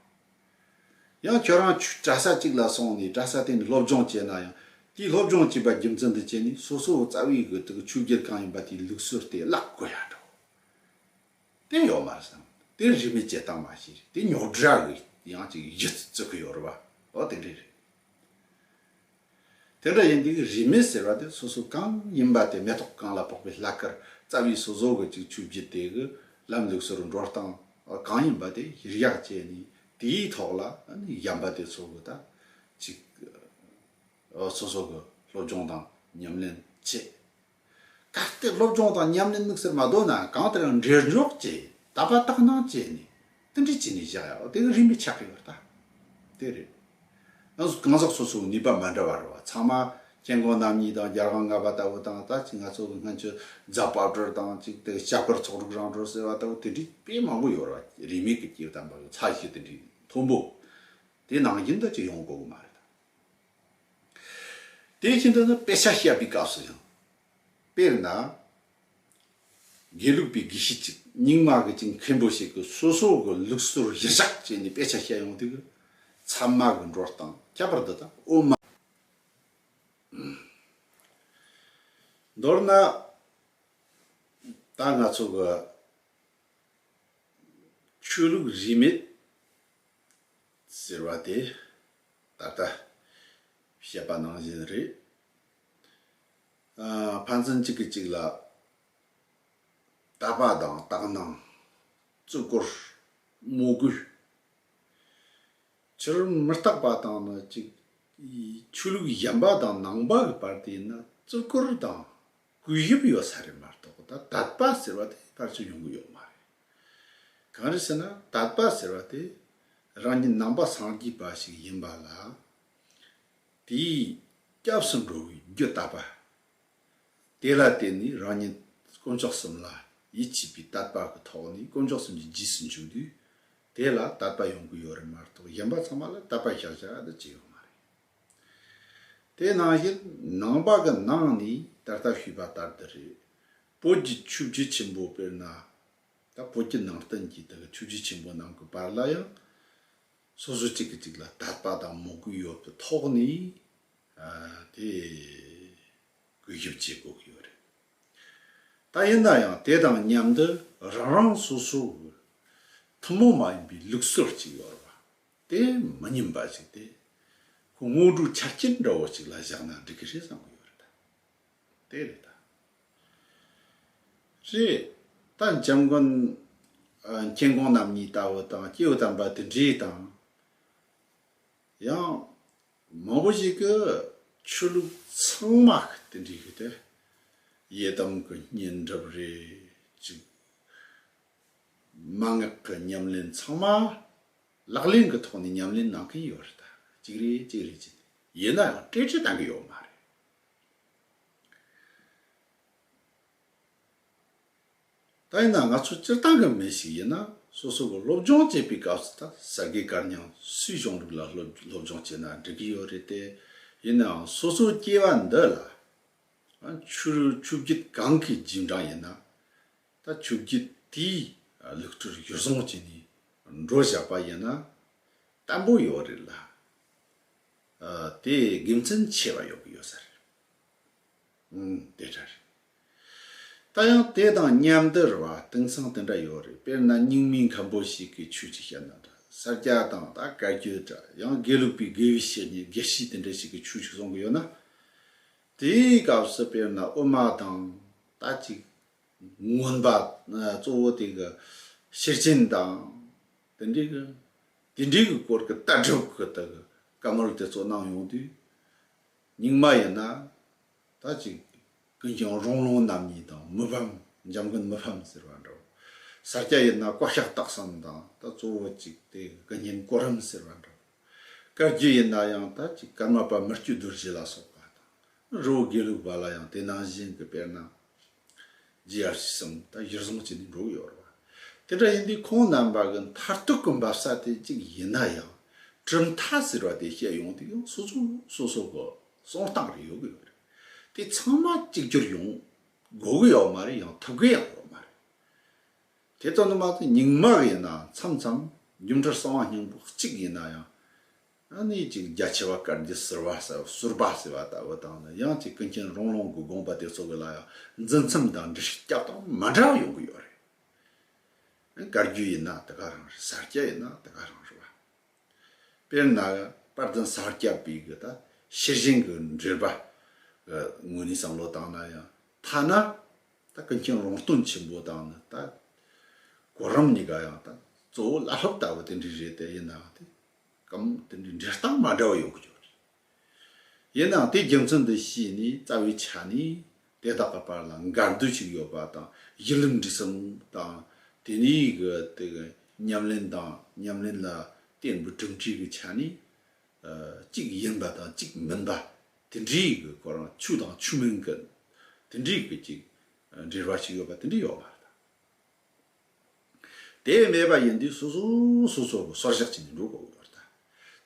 བ། ཡང་ཁྱོད་རང་ཆུ་གྲྭ་ས་གཅིག་ལ་སོང་ནས་གྲྭ་ས་དེ་ནས་སློབ་སྦྱོང་བྱས་ན་ཡང་དེའི་སློབ་སྦྱོང་བྱས་པ་རྒྱུ་མཚན་དུ་བྱས་ནས་སོ་སོའི་རྩ་བའི་གི་དེ་གི་ཆུ་སྒེར་གང་ཡིན་པ་དེའི་ལུགས་སྲོལ་དེ་བརླག་དགོས་ཡ་འདྲ་བ། དེ་ཡོད་མ་རེད་བསམ། དེ་རིགས་མི་སྐྱེ་སྟངས་མ་ཤེས་རེད་དེ་ཉོག་དྲ་གི་ཡང་ཅིག་གཞི་རྩི་གི་ཡོད་རེད་བ། ཨོ་དེ་འདྲས་རེད། དེ་འདྲ་ཡིན་དུས་རིས་མེད་ཟེར་བ་དེ་སོ་སོ་གང་ཡིན་པ་དེ་མེ་ཏོག་གང་ལ་ཕོག་པའི་ལྷ་དཀར་རྩ་བའི་སོ་སོ་གི་ཅིག་ཆུ་བརྒྱུད་དེ་གི་ལམ་ལུགས་སུ་རུ་འགྲོ་སྟངས་གང་ཡིན་པ་དེ་གཞིར་བཞག་བྱས་ནས་དེའི་ཐོག་ལ་གཞམ་པ་དེ་ཚོ་གི་ད་ཅིག་སོ་སོ་གི་སློབ་སྦྱོང་དང་ཉམས་ལེན་བྱེད་གལ་ཏེ་སློབ་སྦྱོང་དང་ཉམས་ལེན་དམིགས་བསལ་མ་དོར་ན་གང་ལྟར་ཡང་འབྲེལ་འཇོག་བཅས་ད་པ་ཏག་ནང་བཅས་ནས་ཏན་ཏིག་བྱས་ནས་བཞག་ཡག་དེ་གི་རིན་པའི་ཆ་གི་ཡོད་ད་དེ་རེད། ཡང་གང་ཟག་སོ་སོའི་ནུས་པ་མ་འདྲ་བ་རེད་བ་ཚང་མ་སྐྱེ་ཁམས་རྣམ་གཉིས་དང་རྒྱལ་ཁམས་ལྔ་པ་ལྟ་བུ་དང་ད་ཅིག་ང་ཚོ་གི་སྔོན་ཆད་རྫ་བབ་གྲོལ་དང་ཅིག་དེ་གི་ཤ་འཁོར་ཚོགས་དྲུག་རང་གྲོལ་ཟེར་བ་ལྟ་བུ་དེ་འདྲིས་དཔེ་མང་པོ་ཡོད་རེད་བ་རིས་མེད་ཀི་སྐྱེས་དམ་པ་ཡོད་ཚ་ཞིག་དེ་འདྲིས་མཐོན་པོ་དེ་ནང་བཞིན་ད་ཅིག་ཡོང་དགོས་གི་མ་རེད་ད། དེ་བཞིན་དུ་དཔེ་ཆ་བཤད་པའི་སྐབས་སུ་ཡང། དཔེར་ན། དགེ་ལུགས་པའི་དགེ་བཤེས་ཅིག་རྙིང་མ་གི་ཅིག་མཁན་པོ་ཞིག་གིས་སོ་སོ་གི་ལུགས་སྲོལ་གཞིར་བཞག་བྱས་ནས་དཔེ་ཆ་བཤད་ཡོང་དུས། ཚབ་མ་གི་འགྲོ་སྟངས་ཁྱད་པར་དུ་དང་དབུ་མ། མདོར་ན། ད་ང་ཚོ་གི། ཆོས་ལུགས་རིས་མེད། ཟེར་བ་དེ་ད་ལྟ་བཤད་པ་ནང་བཞིན་རེད། ཕན་ཚུན་གཅིག་གིས་གཅིག་ལ་དད་པ་དང་དག་སྣང། བརྩི་བཀུར། མོས་གུས། ཕྱི་རོལ་མི་རྟག་པ་དང་ནི་གཅིག། ཆོས་ལུགས་གཞན་པ་དང་ནང་པ་གི་བར་དེ་ནི་བརྩི་བཀུར་དང། གུས་ཞབས་ཡོད་ས་རེད་མ་གཏོགས་ད་དད་པ་ཟེར་བ་དེ་ཕར་ཆེར་ཡོང་གི་ཡོད་མ་རེད། གང་རེད་ཟེར་ན་དད་པ་ཟེར་བ་དེ་རང་གི་ནང་པ་སངས་རྒྱས་པ་ཞིག་ཡིན་པ་ལ་དེའི་སྐྱབས་སུ་འགྲོ་བའི་རྒྱུ་དད་པ། དེ་ལ་བརྟེན་ནས་རང་ཉིད་དཀོན་མཆོག་གསུམ་ལ་ཡིད་ཆེས་པའི་དད་པ་གི་ཐོག་ནས་དཀོན་མཆོག་གསུམ་གྱི་རྗེས་སུ་འཇུག་དུས་དེ་ལ་དད་པ་ཡོང་གི་ཡོད་རེད་མ་གཏོགས་གཞན་པ་ཚང་མ་ལ་དད་པ་བཞག་བཞག་ཨ་ཏི་ཅི་ཡོད་མ་རེད། དེ་ནང་བཞིན་ནང་པ་གི་ནང་ནས་ད་ལྟ་ཞུས་པ་ལྟར་དུ་རེད། བོད་ཀྱི་ཆུ་བཞི་ཆེན་པོ་དཔེར་ན། ད་བོད་ཀྱི་ནང་བསྟན་གྱི་དེ་གི་ཆུ་བཞི་ཆེན་པོ་རྣམས་ཀི་བར་ལ་ཡང། སོ་སོ་གཅིག་གི་གཅིག་ལ་དད་པ་དང་མོས་གུས་ཡོད་པའི་ཐོག་ནས། དེ། གུས་ཞབས་བྱེད་དགོས་ཀི་ཡོད་རེད། ད་ཡིན་ན་ཡང་དེ་དང་མཉམ་དུ་རང་རང་སོ་སོ་གི། ཐུན་མོང་མ་ཡིན་པའི་ལུགས་སྲོལ་གཅིག་ཡོད་རེད་པ། དེ་མི་སྙན་པ་ཞིག་སྟེ། ཁོ་དངོས་གྲུབ་ཆ་རྐྱེན་འདྲ་བོ་ཞིག་ལ་བཞག་ན་འགྲིག་གི་རེད་བསམ་གི་ཡོད་རེད་ད། དེ་རེད་ད། རེད་ད། འཇམ་མགོན་མཁྱེན་གོང་རྣམ་གཉིས་ལྟ་བུ་དང་སྐྱེས་བུ་དམ་པ་དེ་འདྲའི་དང། ཡང། མང་པོ་ཞིག་གི་ཆོས་ལུགས་ཚང་མ་གི་དེ་འདྲའི་གི་དེ། ཡི་དམ་གི་བསྙེན་སྒྲུབ་རེ་ཅིག། མ་ངག་གི་ཉམས་ལེན་ཚང་མ་ལག་ལེན་གྱི་ཐོག་ནས་ཉམས་ལེན་གནང་གི་ཡོད་རེད་ད། གཅིག་རེད་གཅིག་རེད་ཅེས་ཡིན་ན་ཡང་སྤྲོས་བྲལ་གཏང་གི་ཡོད་མ་རེད། ད་ཡིན་ན་ང་ཚོ་སྤྱིར་བཏང་གི་མི་ཞིག་ཡིན་ན་སོ་སོ་གི་སློབ་སྦྱོང་བྱེད་པའི་སྐབས་སུ་ད་ཟ་གི་སྐར་མྱང་སུའི་གཞུང་ལུགས་ལ་སློབ་སྦྱོང་བྱས་ན་འགྲིག་གི་ཡོད་རེད་དེ། ཡིན་ནའང་སོ་སོའི་སྐྱེ་བ་འདི་ལ། ཆུ་རུལ་ཆུ་བརྒྱུད་གང་གི་རྗེས་འབྲང་ཡིན་ན། ད་ཆུ་བརྒྱུད་དེའི་ལུགས་སྤྲུལ་བཞུར་བཟང་བྱས་ནས་འགྲོ་བཞག་པ་ཡིན་ན་བརྟན་པོ་ཡོད་རེད་ལ། དེ་དགེ་མཚན་ཆེ་བ་ཡོད་གི་ཡོད་ས་རེད། ཨང། དེ་འདྲ་རེད། ད་ཡང་དེ་དང་མཉམ་དར་བ་དེང་སང་དེ་འདྲ་ཡོད་རེད་དཔེར་ན་སྙིང་མི་མཁན་པོ་ཞིག་གི་ཆོས་ཅིག་བཤད་ན་འདྲ་ས་སྐྱ་དང་ད་བཀའ་བརྒྱུད་འདྲ་ཡང་དགེ་ལུགས་པའི་དགེ་བའི་བཤེས་གཉེན་དགེ་བཤེས་དེ་འདྲ་ཞིག་གི་ཆོས་ཤིག་གསུང་གི་ཡོད་ན། དེའི་སྐབས་སུ་དཔེར་ན་དབུ་མ་དང་ད་ཅིག་མངོན་པ་གཙོ་བོ་དེ་གི་ཤེར་ཕྱིན་དང། དེ་འདྲའི་གི་དེ་འདྲའི་གི་སྐོར་གི་ལྟ་གྲུབ་གི་དེ་གི་བཀའ་མོལ་དེ་ཚོ་གནང་ཡོང་དུས། རྙིང་མ་ཡིན་ན་ད་ཅིག་ཀུན་ཀྱང་རོང་ལུང་རྣམ་གཉིས་དང་མི་ཕམ་འཇམ་མགོན་མི་ཕམ་ཟེར་བ་འདྲ་བོ། སར་སྐྱ་ཡིན་ན་བཀའ་ཤག་སྟག་བསམ་དང་ད་གཙོ་བོ་ཅིག་དེ་གི་ཀུན་མཁྱེན་གོ་རིམ་ཟེར་བ་འདྲ་བོ། བཀའ་བརྒྱུད་ཡིན་ན་ཡང་ད་ཅིག་ཀརྨ་པ་མི་བརྒྱུད་རྡོ་རྗེ་ལ་སོགས་པ་དང། རི་བོ་དགེ་ལུགས་པ་ལ་ཡང་དེ་ནང་བཞིན་གྱི་དཔེར་ན། GR ཞེས་གསུངས་ད་གཞིར་བཟུང་བྱས་ནས་འབྲུག་ཡོད་རེད། དེ་འདྲ་ཡིན་དུས་ཁོང་རྣམ་པ་གི་མཐར་ཐུག་གི་འབབ་ས་དེ་གཅིག་ཡིན་ན་ཡང་གྲུབ་མཐའ་ཟེར་བ་དེ་བཤད་ཡོང་དུས་ཡང་སོ་སོ་སོ་སོ་གི་གསང་སྟངས་རེ་ཡོད་གི་ཡོད་རེད། དེ་ཚང་མ་གཅིག་གྱུར་ཡོང་དགོས་གི་ཡོད་མ་རེད་ཡང་ཐུབ་གི་ཡང་ཡོད་མ་རེད། དེ་ལྟ་ནི་མ་གཏོགས་རྙིང་མ་གི་ཡིན་ན་མཚམས་མཚམས་རྒྱུ་མཐར་གསང་བ་སྙིང་པོ་གཅིག་ཡིན་ན་ཡང་ཨ་ནེ་གཅིག་རྒྱ་ཆེ་བ་དཀར་མཛེས་ཟུར་བ་ཟེར་བ་ཟུར་པ་ཟེར་བ་ལྟ་བུ་དང་ནི་གཡང་གཅིག་ཀུན་མཁྱེན་རོང་ལུང་གི་དགོངས་པ་དེ་ཚོ་གི་ལ་ཡང་འཛིན་མཚམས་དང་འདྲི་ཤེས་སྐྱབས་དང་མ་འདྲ་བ་ཡོང་གི་ཡོད་རེད། དཀར་རྒྱུ་ཡིན་ན་དེ་ག་རང་རེད་ཟར་སྐྱ་ཡིན་ན་དེ་ག་རང་རེད་བ། དཔེར་ན་གི་པར་བརྫུན་ཟར་སྐྱ་པའི་གི་ད་ཤེར་བཞེངས་གི་འགྲེལ་པ་གི་ངོས་ནས་བསམ་བློ་བཏང་ན་ཡང་ཐ་ན་ད་ཀུན་མཁྱེན་རོང་སྟོན་ཆེན་པོ་དང་ནི་ད་གོ་རིམ་གཉིས་ཀ་ཡང་ད་གཙོ་བོ་བླ་སློབ་ལྟ་བུ་དེ་འདྲའི་རེད་དེ་ཡིན་ནའང་དེ། གམ། དེ་འདྲའི་འགྲེལ་སྟངས་མ་འདྲ་བ་ཡོང་གི་ཆོག་རེད། ཡིན་ནའང་དེའི་རྒྱུ་མཚན་དུ་བྱས་ནས་རྩ་བའི་ཆ་ནས་དེ་དག་གི་བར་ལ་འགལ་འདུ་ཞིག་ཡོད་པ་དང་གཞི་ལམ་འབྲས་གསུམ་དང་དེ་གཉིས་ཀྱི་ཉམས་ལེན་དང་ཉམས་ལེན་ལ་བརྟེན་པའི་གྲུབ་འབྲས་ཀྱི་ཆ་ནས་གཅིག་ཡིན་པ་དང་གཅིག་མིན་པ་དེ་འདྲའི་གི་སྐོར་རང་ཆོས་དང་ཆོས་མིན་གྱི་དེ་འདྲའི་གི་གཅིག་འབྲེལ་བ་ཞིག་ཡོད་པ་དེ་འདྲ་ཡོད་མ་རེད། དེ་བས་མེད་པ་ཡིན་དུས་སོ་སོ་སོ་སོར་སོར་བཞག་བྱས་ནས་འགྲོ་དགོས་པར་ལྟ།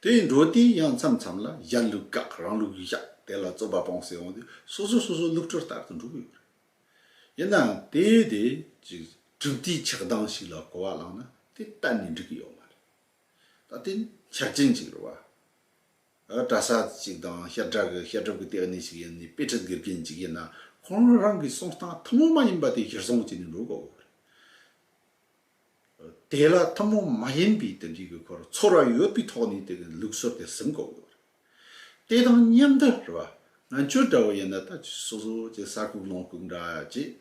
དེ་ཡིས་འགྲོ་དུས་ཡང་མཚམས་མཚམས་ལ་གཞན་ལུགས་བཀག་རང་ལུགས་བཞག་དེ་ལ་རྩོད་པ་སྤོང་སེ་འོང་དུས་སོ་སོ་སོ་སོའི་ལུགས་སྤྲོད་ལྟར་དུ་འགྲོ་དགོས་པར་ལྟ། ཡིན་ནའང་དེ་དེ་ཅིག་གྲུབ་དུས་ཆགས་སྡང་ཞིག་ལ་གོ་བ་བླངས་ན་དེ་གཏན་ནས་འགྲིག་གི་ཡོད་མ་རེད། ད་དེ་འཆར་ཅན་ཅིག་རེད་བ། གྲྭ་ས་ཅིག་དང་ཤར་བྲག་གི་ཤར་སྒྲུབ་ཀྱི་སྟེགས་གནས་ཤིག་ཡིན་ནི་དཔེ་ཁྲིད་དགེ་རྒན་ཅིག་ཡིན་ན་ཁོང་རང་གི་གསུང་སྟངས་ཐུན་མོང་མ་ཡིན་པ་དེ་གཞིར་བཟུང་བྱས་ནས་འགྲོ་དགོས་པ་རེད། དེ་ལ་ཐུན་མོང་མ་ཡིན་པའི་དོན་གཅིག་གི་ཁོར་ཚོར་བ་ཡོད་པའི་ཐོག་ནས་དེ་གི་ལུགས་སྲོལ་དེ་ཟིན་དགོས་པ་རེད། དེ་དང་མཉམ་དུ་རེད་པ་ང་ཅོ་འདྲ་བོ་ཡིན་ན་ད་ཆོས་སོ་སོ་ཀྱི་ས་ཁུག་ལོངས་ཁུག་འདྲ་ཅེས།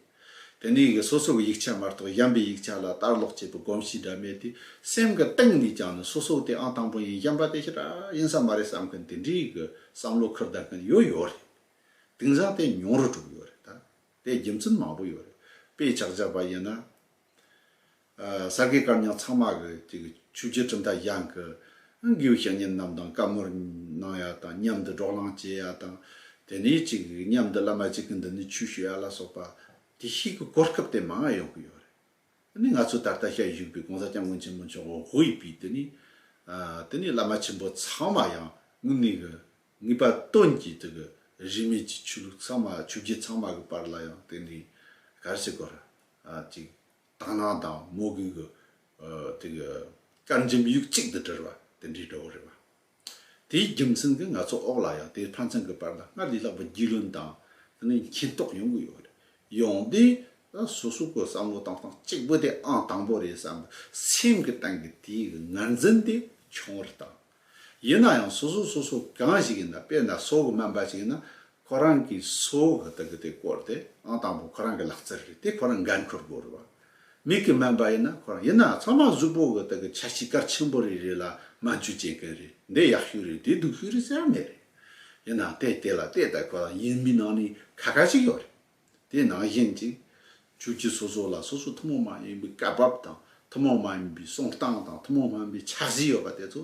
དེ་ནས་ཀྱི་སོ་སོ་ཀྱི་ཡིག་ཆ་མ་གཏོགས་གཞན་པའི་ཡིག་ཆ་ལ་ལྟ་ཀློག་བྱེད་པའི་གོམས་གཤིས་འདྲ་མེད་དེ་སེམས་ཀྱི་སྟེང་ནས་ཀྱང་ནི་སོ་སོ་དེ་ཨང་དང་པོ་ཡིན་གཞན་པ་དེ་ཕྱི་དགྲ་ཡིན་ས་མ་རེད་བསམ་མཁན་དེ་འདྲའི་གི་བསམ་བློ་འཁུར་ལྡན་མཁན་ཡོད་ཡོད་རེད། དིང་སང་དེ་ཉུང་རུ་གྲུབ་ཡོད་རེད་ད། དེ་རྒྱུ་མཚན་མང་པོ་ཡོད་རེད། དཔེ་ཆགས་རྒྱག་པ་ཡིན་ན། ས་དགེ་བཀའ་ཉག་ཚང་མ་གི་ཆུ་བྱི་གྲུབ་མཐའ་གཞང་གི་དགེ་བའི་བཤེས་གཉེན་རྣམས་དང་བཀའ་མོལ་གནང་ཡ་དང་མཉམ་དུ་སྒྲོག་ལང་བྱེད་ཡ་དང་དེ་ནས་ཅིག་མཉམ་དུ་བླ་མ་གཅིག་གི་མདུན་ནས་ཆོས་ཞུ་ཡ་ལ་སོགས་པ་དེ་བཞིན་གྱི་གོ་སྐབས་དེ་མང་ཡང་ཡོང་གི་ཡོད་རེད། དེ་ནས་ང་ཚོ་ད་ལྟ་ཤར་བཞུགས་པའི་གོང་ས་སྐྱབས་མགོན་ཆེན་པོ་མཆོག་དབུ་དབྱི་པའི་དེ་ནས་དེ་ནས་བླ་མ་ཆེན་པོ་ཚང་མ་ཡང་ངུ་ངེས་གི་ངེས་པ་སྟོན་གྱི་དེ་གི་རིས་མེད་ཀྱི་ཆོས་ལུགས་ཚང་མ་ཆུ་བྱི་ཚང་མ་གི་བར་ལ་ཡང་དེ་ནས་ག་རེ་བྱེད་དགོས་རེད། གཅིག། དག་སྣང་དང་མོས་གུས་ཀྱི་དཀར་འཇིམ་ཡུག་གཅིག་ཏུ་དྲིལ་བ་དེ་འདྲའི་གྲོགས་རེད་བ། དེའི་རྒྱུ་མཚན་གྱིས་ང་ཚོ་འོག་ལ་ཡང་དེའི་ཕན་ཚུན་གྱི་བར་ན་སྔར་ལས་ལྷག་པའི་རྒྱུས་ལོན་དང་མཁྱེན་རྟོགས་ཡོང་གི་ཡོད་རེད། ཡོང་དུས་སོ་སོ་ཀྱི་བསམ་བློ་གཏོང་སྟངས་གཅིག་པུ་དེ་ཨང་དང་པོ་རེད་བསམ་པའི་སེམས་ཀྱི་སྟེང་གི་དེའི་ངར་འཛིན་དེ་ཆུང་བར་བཏང། ཡིན་ན་ཡང་སོ་སོ་སོ་སོ་གང་ཞིག་ཡིན་ན་དཔེར་ན་སོ་གི་སྨན་པ་ཞིག་ཡིན་ན་ཁོ་རང་གིས་སོ་གི་དག་གི་དེ་བསྐོར་ཏེ་ཨང་དང་པོ་ཁོ་རང་གི་ལག་རྩལ་རེད་དེ་ཁོ་རང་འགན་འཁུར་དགོས་རེད་བ། མིག་གི་སྨན་པ་ཡིན་ན་ཁོ་རང་ཡིན་ན་ཚང་མ་གཟུགས་པོ་གི་དག་གི་ཆ་གཅིག་གར་ཆེན་པོ་རེ་རེ་ལ་སྨན་བཅོས་བྱེད་མཁན་རེད་འདི་ཡག་ཤོས་རེད་འདི་སྡུག་ཤོས་རེད་ཟེར་ཡ་མེད་རེད། ཡིན་ནའང་དེ་དེ་ལ་དེ་ལྟ་ཁོ་ལ་ཡིན་མིན་ནང་ནས་ཁ་ཁ་ཞིག་ཡོད་རེད། དེའི་ནང་བཞིན་ཅིག། ཆོས་བརྒྱུད་སོ་སོ་ལ་སོ་སོའི་ཐུན་མོང་མ་ཡིན་པའི་སྐབས་བབ་དང་ཐུན་མོང་མ་ཡིན་པའི་གསུང་སྟངས་དང་ཐུན་མོང་མ་ཡིན་པའི་ཕྱག་བཞེས་ཡོད་པ་དེ་ཚོ་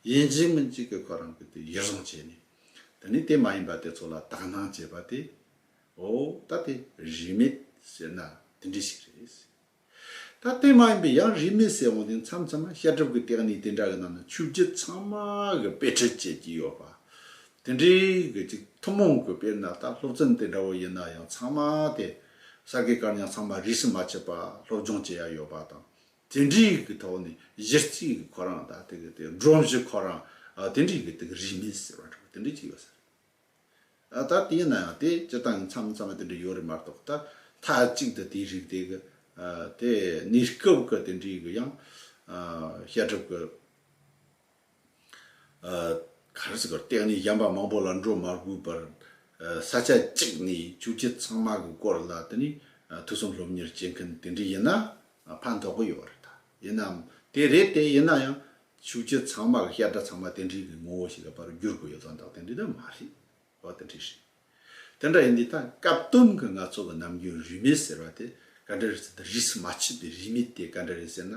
ཡིན་གཅིག་མིན་གཅིག་གི་ཁོ་རང་གི་དེ་གཞིར་བཟུང་བྱས་ནས། དེ་ནས་དེ་མ་ཡིན་པ་དེ་ཚོ་ལ་དག་སྣང་བྱེད་པ་དེ། འོ་ད་དེ་རིས་མེད་ཟེར་ན་དེ་འདྲས་ཤིག་རེད། ད་ལྟའི་མ་ཡིན་པའི་ཡང་རིས་མེད་ཟེར་འོང་དུས་མཚམས་མཚམས་ན་ཤ་ཁྲབ་ཀྱི་སྟེགས་ནས་དེ་འདྲ་གི་ནང་ན་ཆུ་བརྒྱུད་ཚང་མ་གི་དཔེ་ཁྲིད་བྱེད་ཀྱི་ཡོད་པ། དེ་འདྲའི་གི་ཅིག་ཐུན་མོང་གི་དཔེར་ན་ད་སློབ་ཚན་དེ་འདྲ་བོ་ཡིན་ན་ཡང་ཚང་མ་དེ་ས་དགེ་བཀར་ཉག་ཚང་མ་རིས་མ་ཆད་པ་སློབ་སྦྱོང་བྱེད་ཡ་ཡོད་པ་དང། དེ་འདྲའི་གི་ཐོག་ནས་གཞི་རྩའི་གི་ཁོ་རང་ད་དེ་གི་དེ་སྒྲོམ་གཞི་ཁོ་རང་དེ་འདྲའི་གི་དེ་གི་རིས་མེད་ཟེར་བ་འདྲ་བོ་དེ་འདྲ་ཅིག་ཡོད་ས་རེད། ད་ལྟ་ཡིན་ན་ཡང་དེ་སྤྱི་དང་མཚམས་མཚམས་དེ་འདྲ་ཡོད་རེད་མ་གཏོགས་ད་མཐའ་གཅིག་ཏུ་དེའི་རིགས་དེ་གི་དེ་གནས་སྐབས་ཀྱི་དེ་འདྲའི་གི་ཡང་བཤད་སྒྲུབ་ཀྱི་ག་རེ་ཟེར་དགོས་སྟེང་ནས་གཞན་པ་མང་པོ་ལ་འགྲོ་མ་དགོས་པར་ས་ཆ་གཅིག་ནས་ཆོས་རྗེ་ཚང་མ་གི་སྐོར་ལ་དེ་ནས་ཐུགས་བསམ་སློབ་གཉེར་བྱེད་མཁན་དེ་འདྲ་ཡིན་ན་ཕན་ཐོགས་ཀྱི་ཡོད་རེད་ད་ཡིན་ནའམ་དེ་རེད་དེ་ཡིན་ན་ཡང་ཆུ་བྱི་ཚང་མ་ལ་ཤ་ཁྲག་ཚང་མ་དེ་འདྲིའི་གི་ངོ་བོ་ཞིག་ལ་པར་བསྒྱུར་དགོས་ཡོད་དང་དག་དེ་འདྲི་ད་མ་རེད་བ་དེ་འདྲི་རེད། དེ་འདྲ་ཡིན་དུས་ད་སྐབས་སྟོན་གི་ང་ཚོ་གི་ནམ་རྒྱུན་རུས་མེད་ཟེར་བ་དེ་ག་འདྲ་རེད་ཟེར་ད་རིས་སུ་མ་ཆུད་པའི་རུས་མེད་དེ་ག་འདྲ་རེད་ཟེར་ན་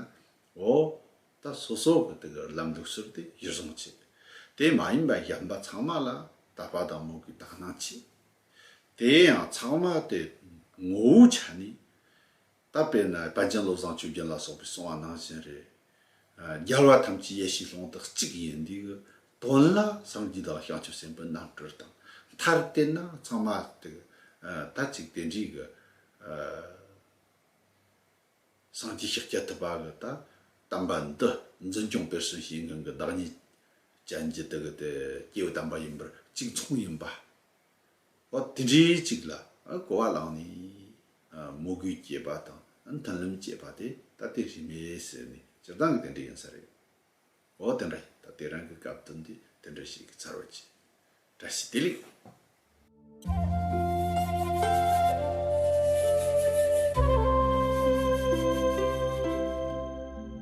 འོ་ད་སོ་སོ་གི་དེ་གི་རུ་ལམ་ལུགས་ཟུར་དེ་གཞིར་བཟུང་བྱས་དེ་མ་ཡིན་པ་གཞན་པ་ཚང་མ་ལ་ད་ཕ་དང་མོ་གི་དག་སྣང་བྱས་དེ་ཡང་ཚང་མ་དེ་ངོ་བོའི་ཆ་ནས་ད་དཔེར་ན་དཔལ་ཆེན་བློ་བཟང་ཆོས་རྒྱལ་ལ་སོགས་པའི་གསུང་བ་ནང་བཞིན་རེད། རྒྱལ་བ་ཐམས་ཅད་ཡེ་ཤེས་ལྷུན་རྟགས་གཅིག་ཡིན་འདི་གི་དོན་ལ་སངས་རྒྱས་དང་བྱང་ཆུབ་སེམས་དཔའི་རྣམ་སྤྲུལ་དང་མཐར་བརྟེན་ན་ཚང་མ་དེ་ད་ཅིག་དེ་འདྲའི་གི་སངས་རྒྱས་ཤེག་རྒྱ་ཐུབ་པ་གི་ད་དམ་པ་འདི་འཛིན་སྐྱོང་སྤེལ་གསུམ་བྱེད་མཁན་གི་བདག་ཉིད་ཅན་གྱི་དེ་གི་དེ་སྐྱེ་བོ་དམ་པ་ཡིན་པར་གཅིག་མཚུངས་ཡིན་པ། པ་དེ་འདྲའི་ཅིག་ལ་གོ་བ་ལངས་ནས་མོ་གུས་སྐྱེས་པ་དང་མཐུན་ལམ་བཅད་པ་དེ་ད་ལྟའི་རིས་མེད་ཟེར་ནས་སྤྱིར་བཏང་གི་དེ་འདྲ་ཡིན་ས་རེད། འོ་དེ་འདྲ་ད་ལྟའི་རང་གི་སྐབས་དོན་དེ་དེ་འདྲ་ཞིག་གི་ཚར་བ་གྱིས། བཀྲ་ཤིས་བདེ་ལེགས།